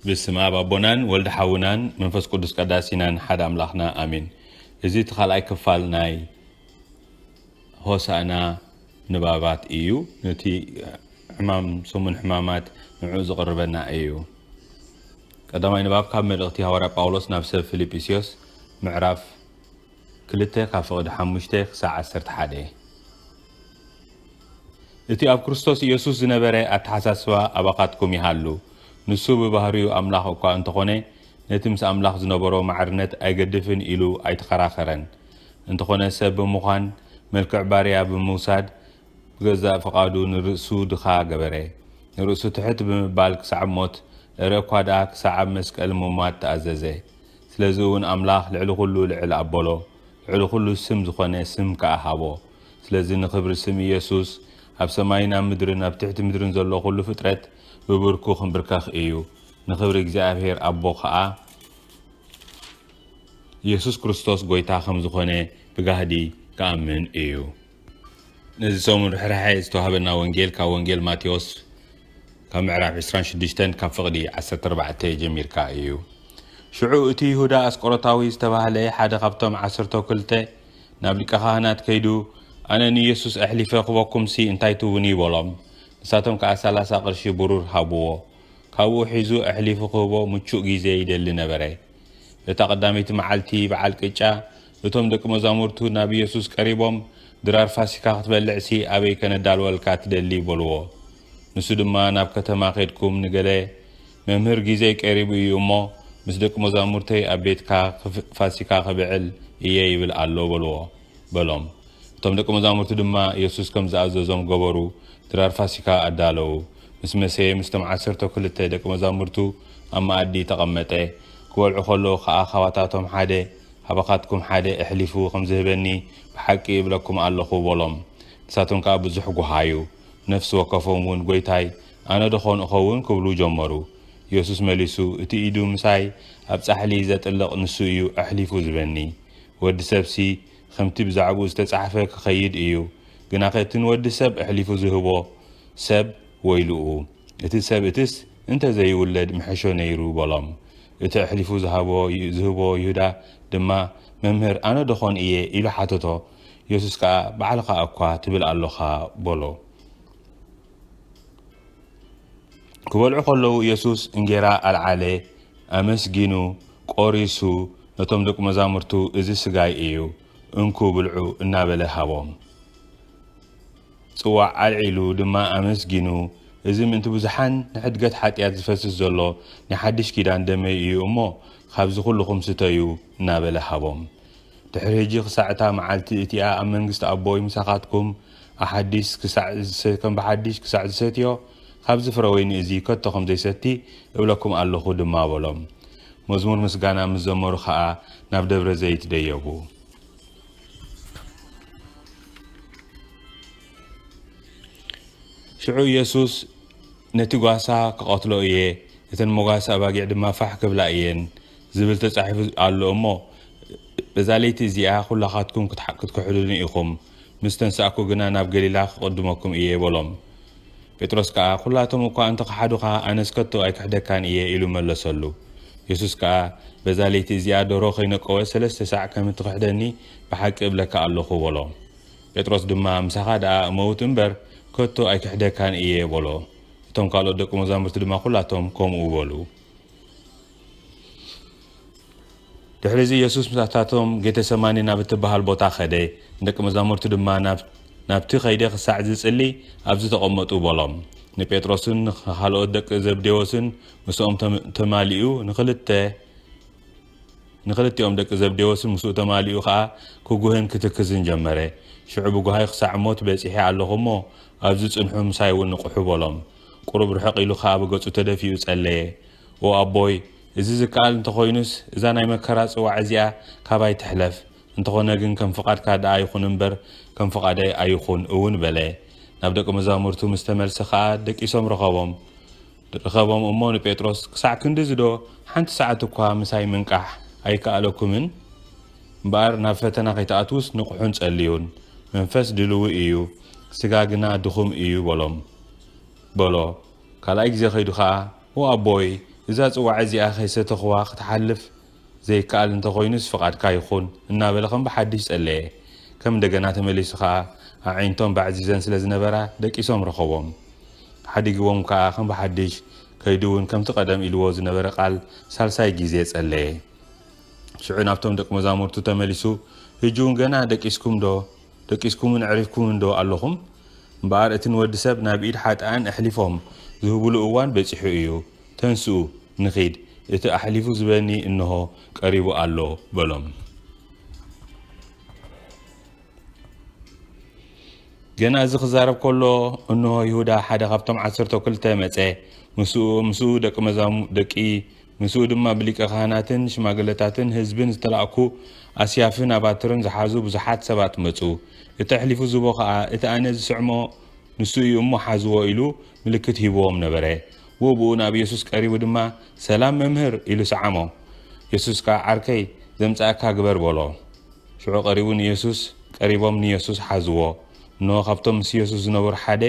ብስመ ኣብ ኣቦናን ወልድ ሓውናን መንፈስ ቅዱስ ቀዳሲናን ሓደ ኣምላኽና ኣሜን። እዚ እቲ ካልኣይ ክፋል ናይ ሆሳእና ንባባት እዩ። ነቲ ሕማም ሰሙን ሕማማት ንዕኡ ዝቕርበና እዩ። ቀዳማይ ንባብ ካብ መልእኽቲ ሃዋርያ ጳውሎስ ናብ ሰብ ፊልጵስዮስ ምዕራፍ ክልተ ካብ ፍቕዲ ሓሙሽተ ክሳዕ ዓሰርተ ሓደ እቲ ኣብ ክርስቶስ ኢየሱስ ዝነበረ ኣተሓሳስባ ኣባኻትኩም ይሃሉ። ንሱ ብባህሪኡ ኣምላኽ እኳ እንተኾነ፣ ነቲ ምስ ኣምላኽ ዝነበሮ ማዕርነት ኣይገድፍን ኢሉ ኣይተኸራኸረን። እንተኾነ ሰብ ብምዃን፣ መልክዕ ባርያ ብምውሳድ፣ ብገዛእ ፍቓዱ ንርእሱ ድኻ ገበረ። ንርእሱ ትሕት ብምባል ክሳዕብ ሞት፣ እረ እኳ ደኣ ክሳዕ ኣብ መስቀል ምሟት ተኣዘዘ። ስለዚ'ውን ኣምላኽ ልዕሊ ኩሉ ልዕል ኣቦሎ፣ ልዕሊ ኩሉ ስም ዝኾነ ስም ከኣ ሃቦ። ስለዚ ንኽብሪ ስም ኢየሱስ ኣብ ሰማይን ኣብ ምድርን ኣብ ትሕቲ ምድርን ዘሎ ዅሉ ፍጥረት ብብርኩ ኽንብርከኽ እዩ። ንኽብሪ እግዚኣብሔር ኣቦ ኸኣ ኢየሱስ ክርስቶስ ጐይታ ከም ዝዀነ ብጋህዲ ክኣምን እዩ። ነዚ ሰሙን ርሕራሐ ዝተዋህበና ወንጌል ካብ ወንጌል ማቴዎስ ካብ ምዕራፍ ዕስራን ሽዱሽተን ካብ ፍቕዲ ዓሰርተ ኣርባዕተ ጀሚርካ እዩ። ሽዑ እቲ ይሁዳ ኣስቆሮታዊ ዝተባህለ ሓደ ኻብቶም ዓሰርተው ክልተ ናብ ሊቀ ኻህናት ከይዱ ኣነ ንኢየሱስ ኣሕሊፈ ክበኩምሲ እንታይ ትብኒ በሎም ንሳቶም ከኣ ሰላሳ ቅርሺ ብሩር ሃብዎ ካብኡ ሒዙ ኣሕሊፉ ክህቦ ምቹእ ጊዜ ይደሊ ነበረ በታ ቀዳመይቲ መዓልቲ በዓል ቅጫ እቶም ደቂ መዛሙርቱ ናብ ኢየሱስ ቀሪቦም ድራር ፋሲካ ክትበልዕሲ ኣበይ ከነዳልወልካ ትደሊ በልዎ ንሱ ድማ ናብ ከተማ ኬድኩም ንገለ መምህር ጊዜይ ቀሪቡ እዩ እሞ ምስ ደቂ መዛሙርተይ ኣብ ቤትካ ፋሲካ ኸብዕል እየ ይብል ኣሎ በልዎ በሎም። እቶም ደቂ መዛሙርቲ ድማ የሱስ ከም ዝኣዘዞም ገበሩ፣ ድራር ፋሲካ ኣዳለዉ። ምስ መሰየ ምስቶም ዓሰርተው ክልተ ደቂ መዛሙርቱ ኣብ መኣዲ ተቐመጠ፣ ክበልዑ ኸለዉ ኸኣ ኻባታቶም ሓደ ኻባኻትኩም ሓደ እሕሊፉ ኸም ዝህበኒ ብሓቂ እብለኩም ኣሎኹ በሎም። ንሳቶም ከኣ ብዙሕ ጐሃዩ፣ ነፍሲ ወከፎም እውን ጐይታይ ኣነ ደኾን እኸውን? ክብሉ ጀመሩ። የሱስ መሊሱ፣ እቲ ኢዱ ምሳይ ኣብ ጻሕሊ ዜጥልቕ ንሱ እዩ ኣሕሊፉ ዚህበኒ። ወዲ ሰብሲ ኸምቲ ብዛዕባኡ ዝተጻሕፈ ኪኸይድ እዩ። ግናኸ እቲ ንወዲ ሰብ ኣሕሊፉ ዚህቦ ሰብ ወይልኡ! እቲ ሰብ እቲስ እንተ ዘይውለድ ምሐሾ ነይሩ በሎም። እቲ ኣሕሊፉ ዝሃቦ ዚህቦ ይሁዳ ድማ፣ መምህር፣ ኣነ ደኾን እየ? ኢሉ ሓተቶ። የሱስ ከኣ፣ ባዕልኻ እኳ ትብል ኣሎኻ በሎ። ክበልዑ ከለዉ ኢየሱስ እንጌራ ኣልዓለ፣ ኣመስጊኑ፣ ቆሪሱ፣ ነቶም ደቁ መዛሙርቱ እዚ ስጋይ እዩ፣ እንኩ ብልዑ እናበለ ሃቦም። ጽዋዕ ኣልዒሉ ድማ ኣመስጊኑ፣ እዚ ምእንቲ ብዙሓን ንሕድገት ሓጢኣት ዝፈስስ ዘሎ ናይ ሓድሽ ኪዳን ደመይ እዩ እሞ ኻብዚ ዅልኹም ስተዩ እናበለ ሃቦም። ድሕሪ ሕጂ ኽሳዕ እታ መዓልቲ እቲኣ ኣብ መንግስቲ ኣቦይ ምሳኻትኩም ኣሓዲስ ክሳዕ ከም ብሓዲሽ ክሳዕ ዝሰትዮ ኻብዚ ፍረ ወይኒ እዚ ከቶ ኸም ዘይሰቲ እብለኩም ኣሎኹ ድማ በሎም። መዝሙር ምስጋና ምስ ዘመሩ ኸኣ ናብ ደብረ ዘይት ደየቡ። ሽዑ ኢየሱስ ነቲ ጓሳ ክቐትሎ እየ፣ እተን መጓሰ ኣባጊዕ ድማ ፋሕ ክብላ እየን ዝብል ተጻሒፉ ኣሎ እሞ፣ በዛ ለይቲ እዚኣ ዅላኻትኩም ክትክሕዱኒ ኢኹም። ምስ ተንሳእኩ ግና ናብ ገሊላ ክቕድመኩም እየ በሎም። ጴጥሮስ ከኣ ኵላቶም እኳ እንተ ኸሓዱኻ፣ ኣነስ ከቶ ኣይክሕደካን እየ ኢሉ መለሰሉ። የሱስ ከኣ በዛ ለይቲ እዚኣ ደርሆ ኸይነቈወ ሰለስተ ሳዕ ከም እትኽሕደኒ ብሓቂ እብለካ ኣሎኹ በሎ። ጴጥሮስ ድማ ምሳኻ ደኣ እመውት እምበር፣ ከቶ ኣይክሕደካን እየ በሎ። እቶም ካልኦት ደቂ መዛሙርቲ ድማ ኵላቶም ከምኡ በሉ። ድሕሪ እዚ የሱስ ምስታቶም ጌተሰማኒ ናብ እትበሃል ቦታ ኸደ፣ ንደቂ መዛሙርቱ ድማ ናብቲ ኸይደ ኽሳዕ ዝጽሊ ኣብዚ ተቐመጡ በሎም። ንጴጥሮስን ንኻልኦት ደቂ ዘብዴዎስን ምስኦም ተማሊኡ ንኽልተ ንኽልቲኦም ደቂ ዘብዴዎስን ምስኡ ተማሊኡ ኸኣ ክጉህን ክትክዝን ጀመረ። ሽዑ ብጓሂ ኽሳዕ ሞት በጺሐ ኣለኹ እሞ፣ ኣብዚ ጽንሑ ምሳይውን ንቕሑ በሎም። ቁሩብ ርሕቕ ኢሉ ኸኣ ብገጹ ተደፊኡ ጸለየ። ኦ ኣቦይ እዚ ዝከኣል እንተኾይኑስ እዛ ናይ መከራ ጽዋዕ እዚኣ ካባይ ትሕለፍ፣ እንተኾነ ግን ከም ፍቓድካ ደኣ ይኹን እምበር ከም ፍቓደይ ኣይኹን እውን በለ። ናብ ደቂ መዛሙርቱ ምስ ተመልሰ ኸኣ ደቂሶም ረኸቦም። ረኸቦም እሞ ንጴጥሮስ ክሳዕ ክንድዚዶ ሓንቲ ሰዓት እኳ ምሳይ ምንቃሕ ኣይከኣለኩምን? እምበኣር ናብ ፈተና ከይትኣትዉስ ንቕሑን ጸልዩን። መንፈስ ድልዊ እዩ፣ ስጋ ግና ድኹም እዩ በሎም። በሎ። ካልኣይ ግዜ ከይዱ ኸኣ ኦ ኣቦይ እዛ ጽዋዐ እዚኣ ከይሰተኹዋ ክትሓልፍ ዘይከኣል እንተ ኾይኑስ ፍቓድካ ይኹን እናበለ ከም ብሓድሽ ጸለየ። ከም እንደገና ተመሊሱ ከኣ ኣዒንቶም ባዕዚዘን ስለ ዝነበራ ደቂሶም ረኸቦም። ሓዲግዎም ከኣ ከም ብሓድሽ ከይዱ እውን ከምቲ ቀደም ኢልዎ ዝነበረ ቃል ሳልሳይ ጊዜ ጸለየ። ሽዑ ናብቶም ደቂ መዛሙርቱ ተመሊሱ ህጂ እውን ገና ደቂስኩምዶ? ደቂስኩምን ኣዕሪፍኩምን ዶ ኣሎኹም? እምበኣር እቲ ንወዲ ሰብ ናብ ኢድ ሓጥኣን ኣሕሊፎም ዝህቡሉ እዋን በጺሑ እዩ። ተንስኡ፣ ንኺድ፣ እቲ ኣሕሊፉ ዝህበኒ እንሆ ቀሪቡ ኣሎ በሎም። ገና እዚ ክዛረብ ከሎ እንሆ ይሁዳ ሓደ ካብቶም ዓሰርተው ክልተ መጸ፣ ምስኡ ምስኡ ደቂ መዛሙ ደቂ ምስኡ ድማ ብሊቀ ኻህናትን ሽማግለታትን ህዝብን ዝተላእኩ ኣስያፍን ኣባትርን ዝሓዙ ብዙሓት ሰባት መጹ። እቲ ኣሕሊፉ ዝህቦ ኸኣ እቲ ኣነ ዝስዕሞ ንሱ እዩ እሞ ሓዝዎ ኢሉ ምልክት ሂብዎም ነበረ። ብኡብኡ ናብ የሱስ ቀሪቡ ድማ ሰላም መምህር ኢሉ ሰዓሞ። የሱስ ከኣ ዓርከይ ዘምጽኣካ ግበር በሎ። ሽዑ ቀሪቡ ንየሱስ ቀሪቦም ንየሱስ ሓዝዎ። እንሆ ካብቶም ምስ የሱስ ዝነበሩ ሓደ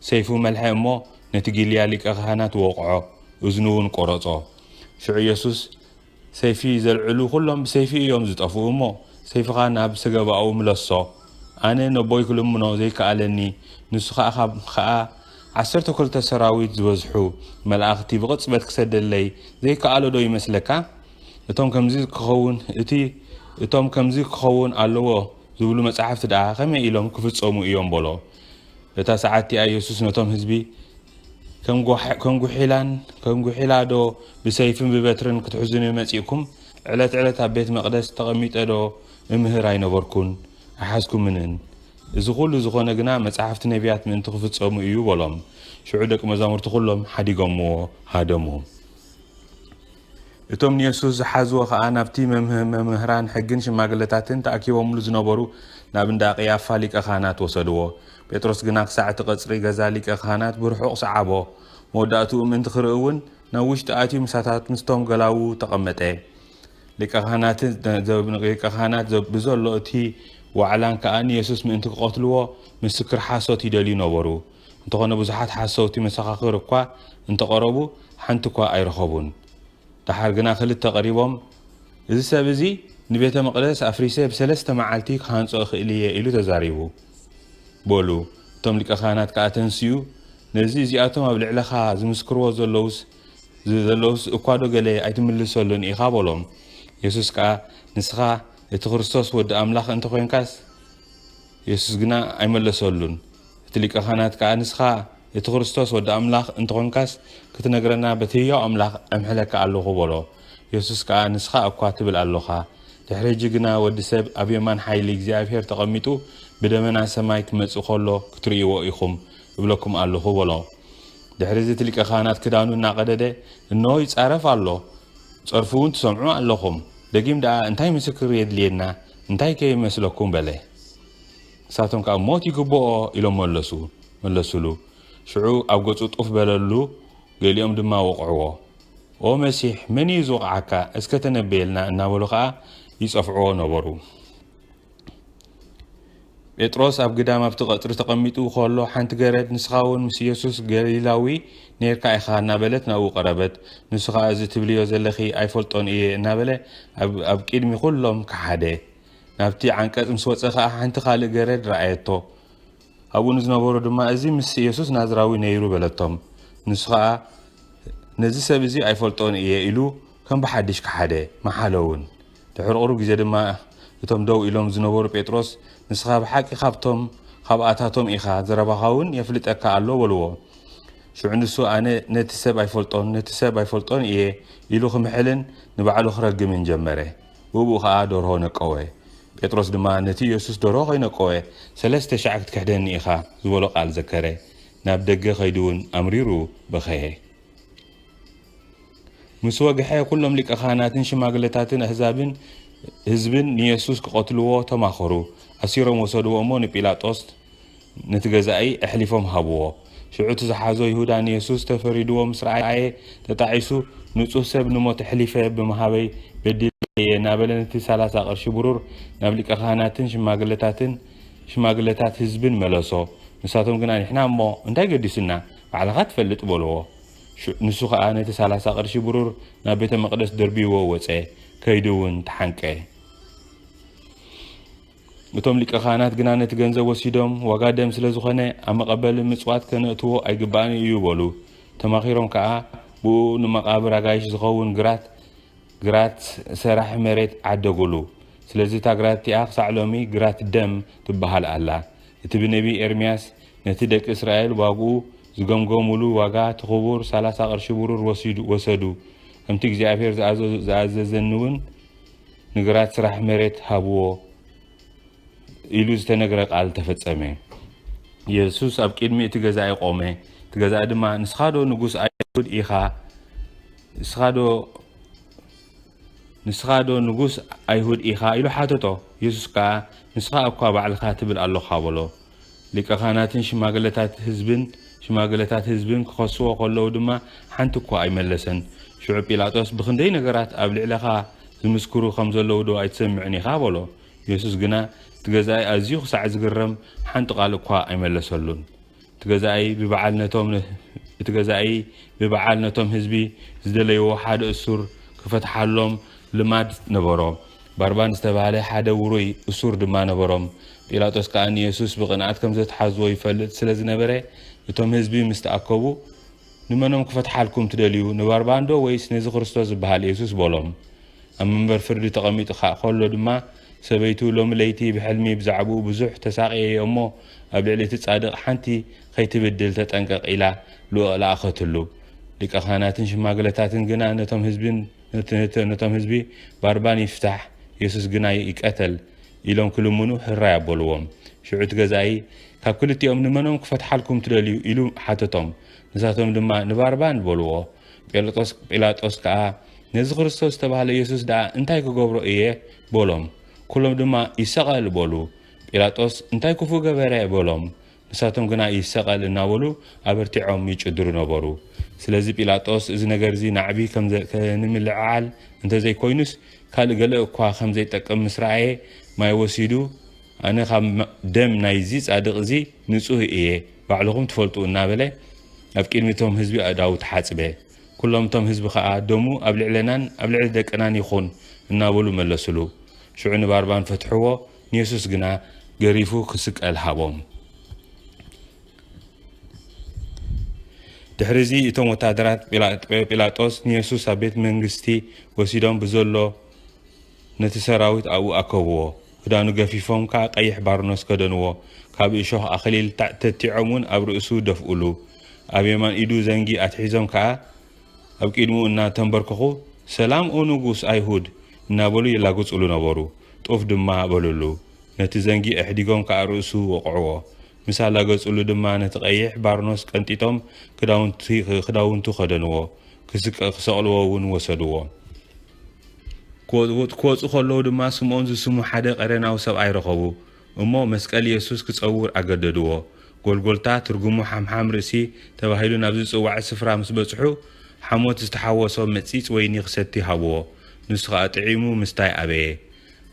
ሰይፉ መልሐ እሞ ነቲ ጊልያ ሊቀ ኻህናት ወቕዖ። እዝኑውን ቈረጾ። ሽዑ የሱስ፣ ሰይፊ ዘልዕሉ ዅሎም ብሰይፊ እዮም ዚጠፍኡ እሞ፣ ሰይፍኻ ናብ ሰገባኡ ምለሶ። ኣነ ነቦይ ክልምኖ ዘይከኣለኒ፣ ንሱ ኸኣ ኸኣ ዓሰርተ ክልተ ሰራዊት ዝበዝሑ መላእኽቲ ብቕጽበት ክሰደለይ ዘይከኣሎዶ ይመስለካ? እቶም ከምዚ ኪኸውን እቲ እቶም ከምዚ ኪኸውን ኣለዎ ዚብሉ መጻሕፍቲ ደኣ ኸመይ ኢሎም ኪፍጸሙ እዮም በሎ። በታ ሰዓትቲኣ የሱስ ነቶም ህዝቢ፣ ከም ጒሒላን ከም ጒሒላዶ ብሰይፍን ብበትርን ክትሕዙኒ መጺእኩም? ዕለት ዕለት ኣብ ቤት መቕደስ ተቐሚጠዶ እምህር ኣይነበርኩን? ኣይሓዝኩምንን። እዚ ዅሉ ዝዀነ ግና መጻሕፍቲ ነብያት ምእንቲ ኺፍጸሙ እዩ በሎም። ሽዑ ደቂ መዛሙርቱ ዅሎም ሓዲጎምዎ ሃደሙ። እቶም ንየሱስ ዝሓዝዎ ኸኣ ናብቲ መምህራን ሕግን ሽማግለታትን ተኣኪቦምሉ ዝነበሩ ናብ እንዳ ቐያፋ ሊቀ ኻህናት ወሰድዎ። ጴጥሮስ ግና ኽሳዕ እቲ ቐጽሪ ገዛ ሊቀ ኻህናት ብርሑቕ ሰዓቦ። መወዳእትኡ ምእንቲ ኽርኢ እውን ናብ ውሽጢ ኣትዩ ምሳታት ምስቶም ገላዉ ተቐመጠ። ሊቀ ኻህናት ብዘሎ እቲ ዋዕላን ከኣ ንየሱስ ምእንቲ ክቐትልዎ ምስክር ሓሶት ይደልዩ ነበሩ። እንተኾነ ብዙሓት ሓሰውቲ መሰኻኽር እኳ እንተቐረቡ ሓንቲ እኳ ኣይረኸቡን። ደሓር ግና ክልተ ቀሪቦም እዚ ሰብ እዚ ንቤተ መቕደስ ኣፍሪሰ ብሰለስተ መዓልቲ ክሃንጾ እኽእል እየ ኢሉ ተዛሪቡ በሉ። እቶም ሊቀ ካህናት ከኣ ተንስኡ ነዚ እዚኣቶም ኣብ ልዕለኻ ዝምስክርዎ ዘለዉስ ዘለዉስ እኳዶ ገለ ኣይትምልሰሉን ኢኻ በሎም። የሱስ ከኣ ንስኻ እቲ ክርስቶስ ወዲ ኣምላኽ እንተ ኾይንካስ፣ የሱስ ግና ኣይመለሰሉን። እቲ ሊቀ ኻህናት ከኣ ንስኻ እቲ ክርስቶስ ወዲ ኣምላኽ እንተ ዀንካስ ክትነግረና በቲ ህያው ኣምላኽ እምሕለካ ኣሎኹ በሎ። የሱስ ከኣ ንስኻ እኳ ትብል ኣሎኻ፣ ድሕሪ ሕጂ ግና ወዲ ሰብ ኣብ የማን ሓይሊ እግዚኣብሄር ተቐሚጡ ብደመና ሰማይ ኪመጽእ ከሎ ክትርእይዎ ኢኹም እብለኩም ኣሎኹ በሎ። ድሕርዚ እቲ ሊቀ ኻህናት ክዳኑ እናቐደደ እንሆ ይጻረፍ ኣሎ፣ ጸርፉውን ትሰምዑ ኣሎኹም። ደጊም ደኣ እንታይ ምስክር የድልየና? እንታይ ከ ይመስለኩም በለ። ንሳቶም ከኣ ሞት ይግብኦ ኢሎም መለሱ መለሱሉ። ሽዑ ኣብ ገጹ ጡፍ በለሉ፣ ገሊኦም ድማ ወቕዕዎ። ኦ መሲሕ መን እዩ ዝወቕዓካ እስከ ተነበየልና እናበሉ ከኣ ይጸፍዕዎ ነበሩ። ጴጥሮስ ኣብ ግዳም ኣብቲ ቀጽሪ ተቐሚጡ ኸሎ፣ ሓንቲ ገረድ፣ ንስኻውን ምስ ኢየሱስ ገሊላዊ ኔርካ ኢኻ እናበለት ናብኡ ቀረበት። ንሱ ኸኣ እዚ ትብልዮ ዘለኺ ኣይፈልጦን እየ እናበለ ኣብ ኣብ ቂድሚ ኹሎም ከሓደ። ናብቲ ዓንቀጽ ምስ ወጸ ኸኣ ሓንቲ ካልእ ገረድ ረኣየቶ። ኣብኡ ንዝነበሩ ድማ እዚ ምስ ኢየሱስ ናዝራዊ ነይሩ በለቶም። ንሱ ኸኣ ነዚ ሰብ እዚ ኣይፈልጦን እየ ኢሉ ከም ብሓድሽ ከሓደ። መሓለውን። ድሕሪ ቁሩብ ግዜ ድማ እቶም ደው ኢሎም ዝነበሩ ጴጥሮስ ንስኻ ብሓቂ ካብቶም ካብኣታቶም ኢኻ ዘረባኻውን የፍልጠካ ኣሎ በልዎ። ሽዑ ንሱ ኣነ ነቲ ሰብ ኣይፈልጦን ነቲ ሰብ ኣይፈልጦን እየ ኢሉ ክምሕልን ንባዕሉ ክረግምን ጀመረ። ብእኡ ኸኣ ደርሆ ነቀወ። ጴጥሮስ ድማ ነቲ የሱስ ደርሆ ከይነቀወ ሰለስተ ሻዕ ክትክሕደኒ ኢኻ ዝበሎ ቃል ዘከረ። ናብ ደገ ከይዱውን ኣምሪሩ በኸየ። ምስ ወግሐ፣ ኵሎም ሊቀ ኻህናትን ሽማግለታትን ኣህዛብን ህዝብን ንየሱስ ኪቐትልዎ ተማኸሩ። ኣሲሮም ወሰድዎ እሞ ንጲላጦስ ነቲ ገዛኢ ኣሕሊፎም ሃብዎ። ሽዑ እቲ ዝሓዞ ይሁዳ ንየሱስ ተፈሪድዎ ምስ ረኣየ ተጣዒሱ፣ ንጹህ ሰብ ንሞት ኣሕሊፈ ብምሃበይ በዲለ እየ እናበለ ነቲ ሰላሳ ቅርሺ ብሩር ናብ ሊቀ ኻህናትን ሽማግለታትን ሽማግለታት ህዝብን መለሶ። ንሳቶም ግና ንሕና እሞ እንታይ ገዲሱና? ባዕልኻ ትፈልጥ በልዎ። ንሱ ኸኣ ነቲ ሰላሳ ቕርሺ ብሩር ናብ ቤተ መቕደስ ደርብይዎ ወጸ፣ ከይዱውን ተሓንቀ። እቶም ሊቀ ኻህናት ግና ነቲ ገንዘብ ወሲዶም፣ ዋጋ ደም ስለ ዝኾነ፣ ኣብ መቐበሊ ምጽዋት ከነእትዎ ኣይግባእን እዩ በሉ። ተማኺሮም ከኣ ብእኡ ንመቓብር ኣጋይሽ ዝኸውን ግራት ግራት ሰራሕ መሬት ዓደጉሉ። ስለዚ እታ ግራት እቲኣ ኽሳዕ ሎሚ ግራት ደም ትበሃል ኣላ። እቲ ብነብዪ ኤርምያስ ነቲ ደቂ እስራኤል ዋግኡ ዝገምገሙሉ ዋጋ እቲ ኽቡር ሰላሳ ቅርሺ ብሩር ወሲዱ ወሰዱ፣ ከምቲ እግዚኣብሄር ዝኣዘዞ ዝኣዘዘኒውን ንግራት ስራሕ መሬት ሃብዎ ኢሉ ዝተነግረ ቃል ተፈጸመ። የሱስ ኣብ ቅድሚ እቲ ገዛኢ ቆመ፣ እቲ ገዛኢ ድማ ንስኻዶ ንጉስ ኣይሁድ ኢኻ? ንስኻዶ ንስኻዶ ንጉስ ኣይሁድ ኢኻ? ኢሉ ሓተቶ። የሱስ ከኣ ንስኻ እኳ ባዕልኻ ትብል ኣሎኻ በሎ። ሊቀ ኻህናትን ሽማግለታት ህዝብን ሽማግለታት ህዝብን ኪኸስዎ ኸለዉ ድማ ሓንቲ እኳ ኣይመለሰን። ሽዑ ጲላጦስ፣ ብኽንደይ ነገራት ኣብ ልዕለኻ ዚምስክሩ ኸም ዘለዉዶ ኣይትሰምዕን ኢኻ? በሎ። የሱስ ግና፣ እቲ ገዛኢ ኣዝዩ ኽሳዕ ዚግረም፣ ሓንቲ ቓል እኳ ኣይመለሰሉን። እቲ ገዛኢ ብበዓል ነቶም እቲ ገዛኢ ብበዓል ነቶም ህዝቢ ዝደለይዎ ሓደ እሱር ኪፈትሓሎም ልማድ ነበሮ። ባርባን ዝተባህለ ሓደ ውሩይ እሱር ድማ ነበሮም። ጲላጦስ ከኣ ንየሱስ ብቕንኣት ከም ዘትሓዝዎ ይፈልጥ ስለ ዝነበረ፣ እቶም ህዝቢ ምስ ተኣከቡ፣ ንመኖም ክፈትሓልኩም ትደልዩ፣ ንባርባንዶ ወይስ ነዚ ክርስቶስ ዝበሃል የሱስ? በሎም። ኣብ መንበር ፍርዲ ተቐሚጡ ከ ከሎ ድማ፣ ሰበይቱ ሎሚ ለይቲ ብሕልሚ ብዛዕባኡ ብዙሕ ተሳቕየዮ እሞ፣ ኣብ ልዕሊ እቲ ጻድቕ ሓንቲ ኸይትብድል ተጠንቀቕ ኢላ ልኡኽ ለኣኸትሉ። ሊቀ ኻህናትን ሽማግለታትን ግና ነቶም ህዝቢ፣ ነቶም ህዝቢ፣ ባርባን ይፍታሕ፣ የሱስ ግና ይቀተል፣ ኢሎም ክልምኑ ሕራይ ኣበሉዎም። ሽዑ እቲ ገዛኢ፣ ካብ ክልቲኦም ንመኖም ክፈትሓልኩም ትደልዩ? ኢሉ ሓተቶም። ንሳቶም ድማ፣ ንባርባን! በሉዎ። ጴሎጦስ ጲላጦስ ከኣ፣ ነዚ ክርስቶስ ዝተባህለ የሱስ ደኣ እንታይ ክገብሮ እየ? በሎም። ኵሎም ድማ፣ ይሰቐል! በሉ። ጲላጦስ፣ እንታይ ክፉእ ገበረ? በሎም። ንሳቶም ግና ይሰቐል እናበሉ ኣበርቲዖም ይጭድሩ ነበሩ። ስለዚ ጲላጦስ እዚ ነገር እዚ ናዕቢ ከምዘይከንምልዕዓል እንተዘይኮይኑስ ካልእ ገለ እኳ ከምዘይጠቅም ምስ ረኣየ ማይ ወሲዱ ኣነ ካብ ደም ናይዚ ጻድቕ እዚ ንጹህ እየ ባዕልኹም ትፈልጡ እናበለ ኣብ ቅድሚ እቶም ህዝቢ ኣእዳዉ ተሓጽበ። ኩሎም እቶም ህዝቢ ከኣ ደሙ ኣብ ልዕለናን ኣብ ልዕሊ ደቅናን ይኹን እናበሉ መለሱሉ። ሽዑ ንባርባን ፈትሕዎ። ንየሱስ ግና ገሪፉ ክስቀል ሃቦም። ድሕሪዚ እቶም ወታደራት ጲላጦስ ንየሱስ ኣብ ቤት መንግስቲ ወሲዶም ብዘሎ ነቲ ሰራዊት ኣብኡ ኣከብዎ። ክዳኑ ገፊፎም ከኣ ቀይሕ ባርኖስ ከደንዎ፣ ካብ እሾኽ ኣኽሊል ተቲዖም እውን ኣብ ርእሱ ደፍኡሉ። ኣብ የማን ኢዱ ዘንጊ ኣትሒዞም ከኣ ኣብ ቂድሙ እናተንበርከኹ ሰላም ኦ ንጉስ ኣይሁድ እናበሉ ይላግጹሉ ነበሩ። ጡፍ ድማ በሉሉ። ነቲ ዘንጊ ኣሕዲጎም ከኣ ርእሱ ወቕዕዎ። ምስ ኣላገጹሉ ድማ ነቲ ቀይሕ ባርኖስ ቀንጢጦም ክዳውንቲ ክዳውንቱ ከደንዎ። ክስቀ ክሰቕልዎ እውን ወሰድዎ። ክወጽ ክወጹ ከለዉ ድማ ስምኦን ዝስሙ ሓደ ቀሬናዊ ሰብኣይ ረኸቡ። እሞ መስቀል የሱስ ክጸውር ኣገደድዎ። ጎልጎልታ፣ ትርጉሙ ሓምሓም ርእሲ፣ ተባሂሉ ናብ ዝጽዋዕ ስፍራ ምስ በጽሑ፣ ሓሞት ዝተሓወሶ መጺጽ ወይኒ ክሰቲ ሃብዎ። ንሱ ኸኣ ጥዒሙ ምስታይ ኣበየ።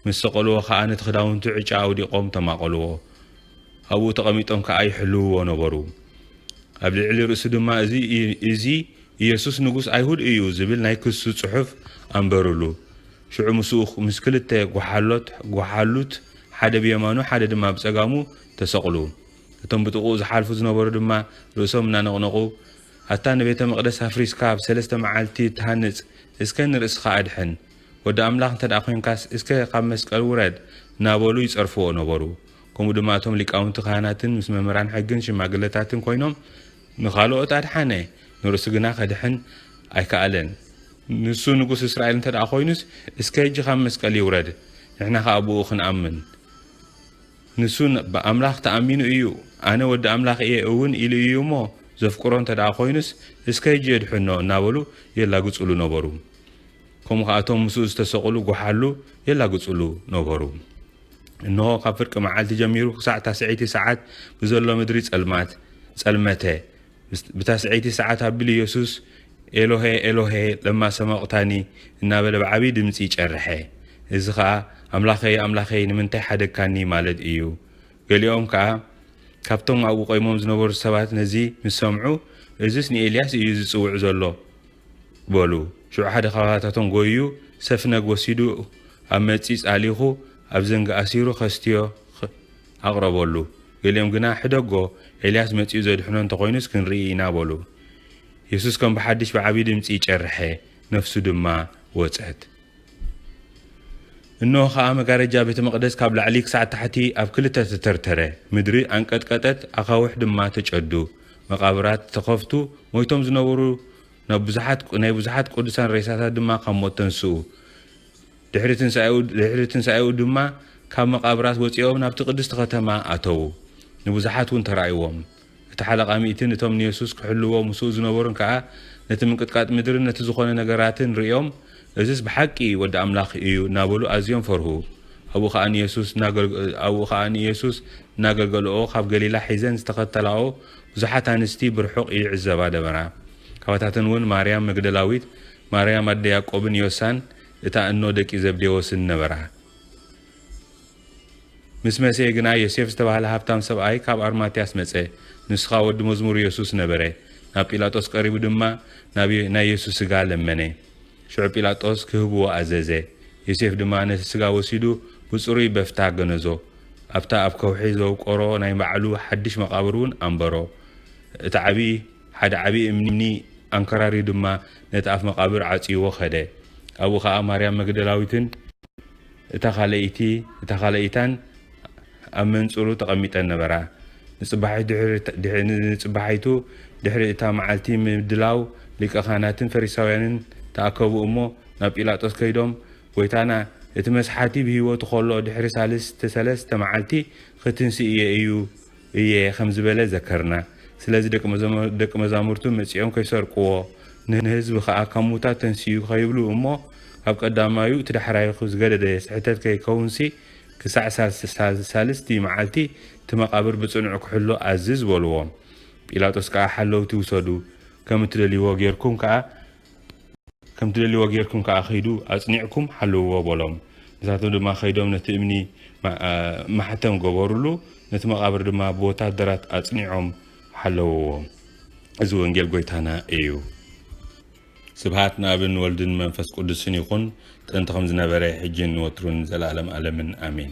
ምስ ሰቐልዎ ኸኣ ነቲ ክዳውንቱ ዕጫ ኣውዲቖም ተማቐልዎ። ኣብኡ ተቐሚጦም ከኣ ይሕልውዎ ነበሩ። ኣብ ልዕሊ ርእሱ ድማ እዚ ኢየሱስ ንጉስ ኣይሁድ እዩ ዝብል ናይ ክሱ ጽሑፍ ኣንበሩሉ። ሽዑ ምስኡ ምስ ክልተ ጓሓሎት፣ ጓሓሉት፣ ሓደ ብየማኑ ሓደ ድማ ብጸጋሙ ተሰቕሉ። እቶም ብጥቕኡ ዝሓልፉ ዝነበሩ ድማ ርእሶም እናነቕነቑ፣ ኣታ ንቤተ መቕደስ ኣፍሪስካ ኣብ ሰለስተ መዓልቲ እትሃንጽ፣ እስከ ንርእስኻ ኣድሕን! ወዲ ኣምላኽ እንተ ዄንካስ እስከ ካብ መስቀል ውረድ! እናበሉ ይጸርፍዎ ነበሩ። ከምኡ ድማ እቶም ሊቃውንቲ ካህናትን ምስ መምህራን ሕግን ሽማግለታትን ኰይኖም ንኻልኦት ኣድሓነ፣ ንርእሱ ግና ኼድሕን ኣይከኣለን። ንሱ ንጉስ እስራኤል እንተ ደኣ ዀይኑስ፣ እስከ ሕጂ ኻብ መስቀል ይውረድ፣ ንሕና ኸኣ ብእኡ ኽንኣምን። ንሱ ብኣምላኽ ተኣሚኑ እዩ፣ ኣነ ወዲ ኣምላኽ እየ እውን ኢሉ እዩ እሞ፣ ዘፍቅሮ እንተ ደኣ ዀይኑስ፣ እስከ ሕጂ የድሕኖ እናበሉ የላግጹሉ ነበሩ። ከምኡ ኸኣ እቶም ምስኡ ዝተሰቕሉ ጐሓሉ የላግጹሉ ነበሩ። እንሆ፣ ካብ ፍርቂ መዓልቲ ጀሚሩ ኽሳዕ ታስዐይቲ ሰዓት ብዘሎ ምድሪ ጸልማት ጸልመተ። ብታስዐይቲ ሰዓት ኣቢሉ የሱስ፣ ኤሎሄ፣ ኤሎሄ፣ ለማ ሰበቕታኒ? እናበለ ብዓብዪ ድምጺ ጨርሐ። እዚ ኸኣ፣ ኣምላኸይ፣ ኣምላኸይ፣ ንምንታይ ሓደግካኒ? ማለት እዩ። ገሊኦም ከኣ ካብቶም ኣብኡ ቈይሞም ዝነበሩ ሰባት ነዚ ምስ ሰምዑ፣ እዝስ ንኤልያስ እዩ ዚጽውዕ ዘሎ። በሉ። ሽዑ ሓደ ኻባታቶም ጎይዩ ሰፍነግ ወሲዱ ኣብ መጺጽ ኣሊኹ ኣብ ዘንጊ ኣሲሩ ከስትዮ ኣቕረበሉ። ገሊኦም ግና ሕደጎ ኤልያስ መጺኡ ዘድሕኖ እንተ ኾይኑስ ክንርኢ ኢና በሉ። የሱስ ከም ብሓድሽ ብዓቢ ድምጺ ጨርሐ፣ ነፍሱ ድማ ወጸት። እነሆ ኸኣ መጋረጃ ቤተ መቕደስ ካብ ላዕሊ ክሳዕ ታሕቲ ኣብ ክልተ ተተርተረ፣ ምድሪ ኣንቀጥቀጠት፣ ኣኻውሕ ድማ ተጨዱ፣ መቓብራት ተኸፍቱ፣ ሞይቶም ዝነበሩ ናብ ብዙሓት ናይ ብዙሓት ቅዱሳን ሬሳታት ድማ ካብ ሞት ተንስኡ። ድሕሪ ትንሳኤኡ ድሕሪ ትንሳኤኡ ድማ ካብ መቓብራት ወጺኦም ናብቲ ቅድስቲ ከተማ ኣተዉ፣ ንብዙሓት እውን ተራእይዎም። እቲ ሓለቓ ሚእቲ ነቶም ንየሱስ ኪሕልዉዎ ምስኡ ዝነበሩን ከኣ ነቲ ምንቅጥቃጥ ምድርን ነቲ ዝዀነ ነገራትን ርእዮም፣ እዝስ ብሓቂ ወዲ ኣምላኽ እዩ እናበሉ ኣዝዮም ፈርሁ። ኣብኡ ኸኣ ንየሱስ እናገልገለኦ ኻብ ገሊላ ሒዘን ዝተኸተላኦ ብዙሓት ኣንስቲ ብርሑቕ ይዕዘባ ነበራ። ካባታተን እውን ማርያም መግደላዊት፣ ማርያም ኣደ ያእቆብን ዮሳን እታ እኖ ደቂ ዘብዴዎስን ነበራ። ምስ መሰየ ግና ዮሴፍ ዝተባህለ ሃብታም ሰብኣይ ካብ ኣርማትያስ መጸ፣ ንሱ ኸኣ ወዲ መዝሙር የሱስ ነበረ። ናብ ጲላጦስ ቀሪቡ ድማ ናብ ናይ የሱስ ስጋ ለመነ። ሽዑ ጲላጦስ ክህብዎ ኣዘዘ። ዮሴፍ ድማ ነቲ ስጋ ወሲዱ ብጽሩይ በፍታ ገነዞ፣ ኣብታ ኣብ ከውሒ ዘውቀሮ ናይ ባዕሉ ሓድሽ መቓብር እውን ኣንበሮ። እቲ ዓብዪ ሓደ ዓብዪ እምኒ ኣንከራርዩ ድማ ነቲ ኣፍ መቓብር ዓጽይዎ ከደ። ኣብኡ ኸኣ ማርያም መግደላዊትን፣ እታ ካልኣይቲ እታ ካልኣይታን ኣብ መንጽሩ ተቐሚጠን ነበራ። ንጽባሒቱ ድሕሪ እታ መዓልቲ ምድላው ሊቀ ካህናትን ፈሪሳውያንን ተኣከቡ እሞ ናብ ጲላጦስ ከይዶም ጐይታና እቲ መስሓቲ ብህይወቱ ከሎ ድሕሪ ሣልስተ ሠለስተ መዓልቲ ኽትንሥእ እየ እዩ እየ ከም ዝበለ ዘከርና። ስለዚ ደቂ መዛሙርቱ መጺኦም ከይሰርቅዎ፣ ንህዝቢ ከኣ ካብ ሙታት ተንሲኡ ከይብሉ እሞ ካብ ቀዳማዩ እቲ ዳሕራይኹ ዝገደደ ስሕተት ከይከውንሲ ክሳዕ ሳልስቲ መዓልቲ እቲ መቓብር ብጽኑዕ ክሕሎ ኣዝዝ በልዎም። ጲላጦስ ከኣ ሓለውቲ ውሰዱ ከም እትደልይዎ ጌርኩም ከኣ ከም ትደልይዎ ጌርኩም ከኣ ኺዱ ኣጽኒዕኩም ሓልውዎ በሎም። ንሳቶም ድማ ከይዶም ነቲ እምኒ ማሕተም ገበሩሉ፣ ነቲ መቓብር ድማ ብወታደራት ኣጽኒዖም ሓለውዎ። እዚ ወንጌል ጎይታና እዩ። ስብሃት ንኣብን ወልድን መንፈስ ቁዱስን ይኩን ጥንቲ ከምዝነበረ ሕጂን ንወትሩን ንዘላለም ኣለምን ኣሜን።